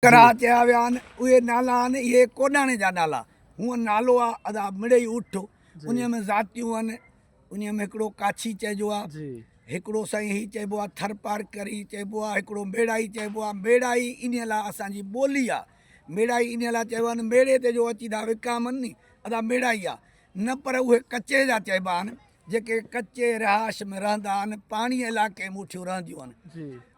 ڪرا چيا ويا آهن اهي نالا آهن اهي ڪوڏاڻي جا نالا هونء نالو آ ادا مڙئي اٺ انهيء ۾ ذاتيون آهن انهيء ۾ هڪڙو ڪاڇي چئجو آ هڪڙو سائين هي چئبو آ ٿر پارڪر هي چئبو آ هڪڙو ميڙائي چئبو آ ميڙائي انهيء لاء اسان جي ٻولي آ ميڙائي انهيء لاء چئبو آهن ميڙي تي جو اچي ٿا وڪامن ني ادا ميڙائي آ نه پر اهي ڪچي جا چئبا آهن جيڪي ڪچي رهائش ۾ رهندا آهن پاڻيء علائقي ۾ اٺيون رهنديون آهن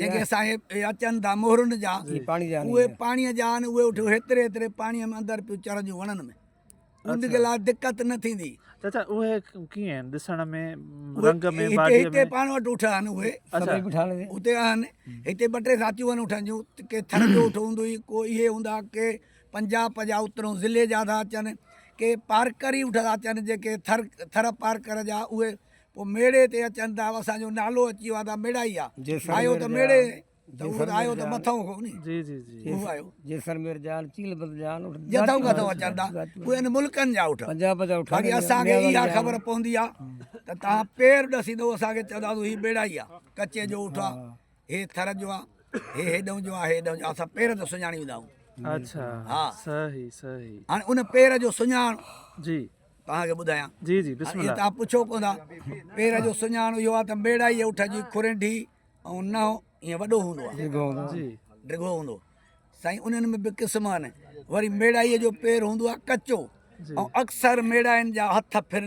جيڪي صاحب اي اچن ٿا مهرن جا اهي پاڻيء جا آهن اهي اٺيو هيتري هيتري پاڻيء ۾ اندر پيو چرنديون وڻن ۾ ان کي لا دقت نه ٿيندي چاچا اهي ڪيئن آهن ڏسڻ ۾ رنگ ۾ باڊي ۾ هتي پاڻ وٽ اٺا آهن اهي سڀئي بٺا آهن هتي آهن هتي ٻه ٽي ذاتيون آهن اٺن جون ڪي ٿر جو اٺ هوندو هي ڪو اهي هوندا ڪي پنجاب پنجاب اترون ضلعي جا ٿا اچن ڪي پارڪر ئي اٺ ٿا اچن جيڪي ٿر ٿر پارڪر جا اهي پوء ميڙي تي اچن ته او اسان جو نالو اچي ويو آ ته ميڙائي آ آيو ته ميڙي ته اهو ته آيو ته مٿئون کان ني جي جي جي اهو آيو جيسلمير جا آهن چيل بلد جا آهن اٺ جتئون ڪٿئون اچن ٿا اهي ان ملڪن جا اٺ پنجاب جا اٺ باقي اسان کي اها خبر پوندي آ ته تهان پير ڏسي ته اسان کي چوندا هي ميڙائي آ ڪچي جو اٺ آ هي ٿر جو آ هي هيڏئون جو آ هي هيڏئون جو اسان پير تي سڃاڻي ويندا آهيون اڇا ها صحيح صحيح هاڻي ان پير جو سڃاڻ جي توهان کي ٻڌايان. جي جي بسم الله. توهان پڇو ڪو نه پير جو سڃاڻ اهو آهي ته ميڙائي اٺ جي کورينڍي ۽ نهو ائين وڏو هوندو آهي. ڊگهو هوندو آهي. ڊگهو هوندو سائين انهن ۾ به قسم آهن وري ميڙائي جو پير هوندو آهي ڪچو ۽ اڪثر ميڙائين جا هٿ ڦرلي.